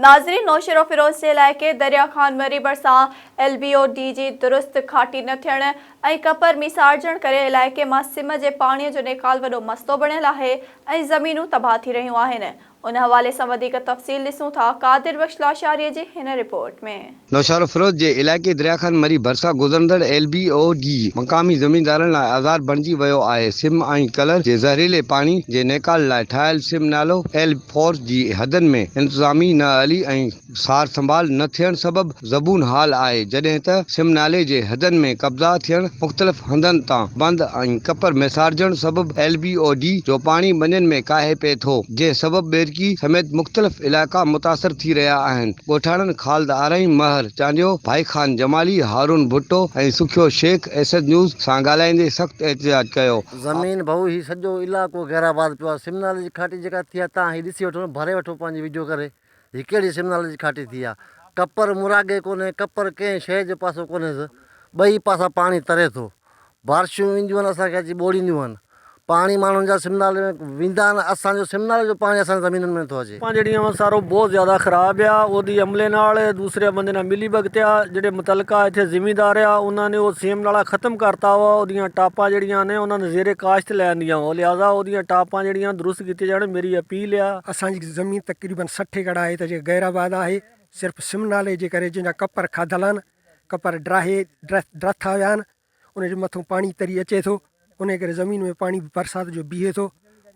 ناظرين نوشهروفيروز جي علائقي دريا خان مري ڀرسان ايل بي او ڊي جي درست گهاٽي نه ٿيڻ ۽ ڪپر ميسارجڻ ڪري علائقي مان سم جي پاڻي جو نيڪال وڏو مسئلو بڻيل آهي ۽ زمينون تباهه ٿي رهيون آهن ان حوالي سان وڌيڪ تفصيل ڏسون ٿا قادر بخش لاشاري جي هن رپورٽ ۾. نوشهروفيروز جي علائقي درياخان مري ڀرسان گذرندڙ ايل بي او ڊي مقامي زميندارن لاء آزار بڻجي ويو آهي سم ۽ ڪلر جي زهريلي پاڻي جي نيڪال لاء ٺاهيل سم نالو ايل فور جي حدن ۾ انتظامي نااهلي ۽ سار سنڀال نه ٿيڻ سبب زبون حال آهي جڏهن ته سم نالي جي حدن ۾ قبضا ٿيڻ مختلف هنڌن تان بند ۽ ڪپر ميسارجڻ سبب ايل بي او ڊي جو پاڻي ٻنين ۾ ڪاهي پئي ٿو جنهن سبب ٻيرڪي سميت مختلف علائقا متاثر ٿي رهيا آهن ڳوٺاڻن خالد آرائين، مهر چانڊيو، ڀائي خان جمالي، هارون ڀٽو ۽ سکيو شيخ ايسٽ نيوز سان ڳالهائيندي سخت احتجاج ڪيو. زمين ڀئو هي سڄو علائقو گهير آباد پيو آ سمنالي جي کاٽي جيڪا ٿي آ تان هي ڏسي وٺو نه ڀري وٺو پنهنجي ويڊيو ڪري هي ڪهڙي سمنالي جي کاٽي ٿي آ ڪپر مراڳي ڪونهي ڪپر ڪنهن شي جي پاسو ڪونهيس ٻئي پاسا پاڻي تري ٿو بارشون اينديون آهن اسان کي اچي ٻوڙينديون آهن پاڻي ماڻهن جا سم نالي ۾ ويندا آهن اسان جو سم نالي جو پاڻي اسان جي زمينن ۾ نٿو اچي. پنج ڏينهن هن سارو بوهه زياده خراب هيا اودي عملي نال دوسري بندي نا ملي بگتيا جيڙي متعلقه اٿي زمين دار هيا انهن ني او سيم نالا ختم ڪرتا هوا اوديان ٽاپان جيڙيان ني انهن زيري کاشت ليان ديان هو لهذا اوديان ٽاپان جيڙيان درست ڪتي جاڻ ميري اپيل هيا. اسان جي زمين تقريبن سٺ ايڪڙ آهي ته جيڪي غير آباد آهي صرف سم نالي جي ڪري جن جا ڪپر کاڌل آهن ڪپر ڊراهي ڊرٿا ويا آهن ان جي مٿو پاڻي تري اچي ٿو انهي ڪري زمين ۾ پاڻي برسات جو بيهي ٿو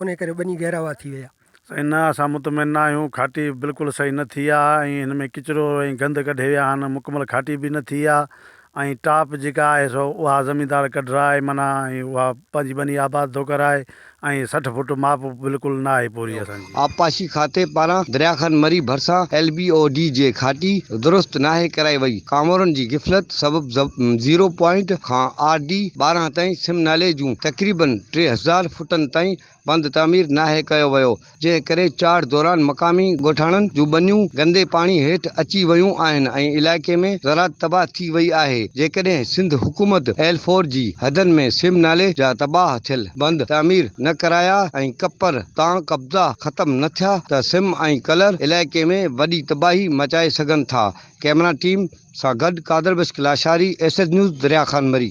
انهي ڪري ٻني گهراوا ٿي ويا. سائين نه اسان مطمئن نه آهيون کاٽي بلڪل صحيح نه ٿي آ ۽ هن ۾ ڪچرو ۽ گند ڪڍي ويا آهن مڪمل کاٽي به نه ٿي آ ۽ ٽاپ جيڪا آهي سو اها زميندار ڪڍرائي معنيٰ ۽ اها پنهنجي ٻني آباد ٿو ڪرائي ۽ سٺ فوٽ ماپ بلڪل نه آهي پوري اسان جي. آبپاشي کاتي پاران درياء خان مري ڀرسان ايل بي او ڊي جي گهاٽي درست ناهي ڪرائي وئي، ڪامورن جي غفلت سبب زيرو پوائنٽ کان آر ڊي ٻارهن تائين سم نالي جون تقريبن ٽي هزار فوٽن تائين بند تعمير ناهي ڪيو ويو، جنهن ڪري چاڙهه دوران مقامي ڳوٺاڻن جون ٻنيون گندي پاڻي هيٺ اچي ويون آهن ۽ علائقي ۾ زراعت تباهه ٿي وئي آهي، جيڪڏهن سنڌ حڪومت ايل فور جي حدن ۾ سيم نالي جا تباهه ٿيل بند تعمير نه ڪرايا ۽ ڪپر تان قبضا ختم نه ٿيا ته سيم ۽ ڪلر علائقي ۾ وڏي تباهي مچائي سگهن ٿا، ڪئميرا ٽيم سان گڏ Qadir Bakhsh Lashari, S H news, Darya Khan مري.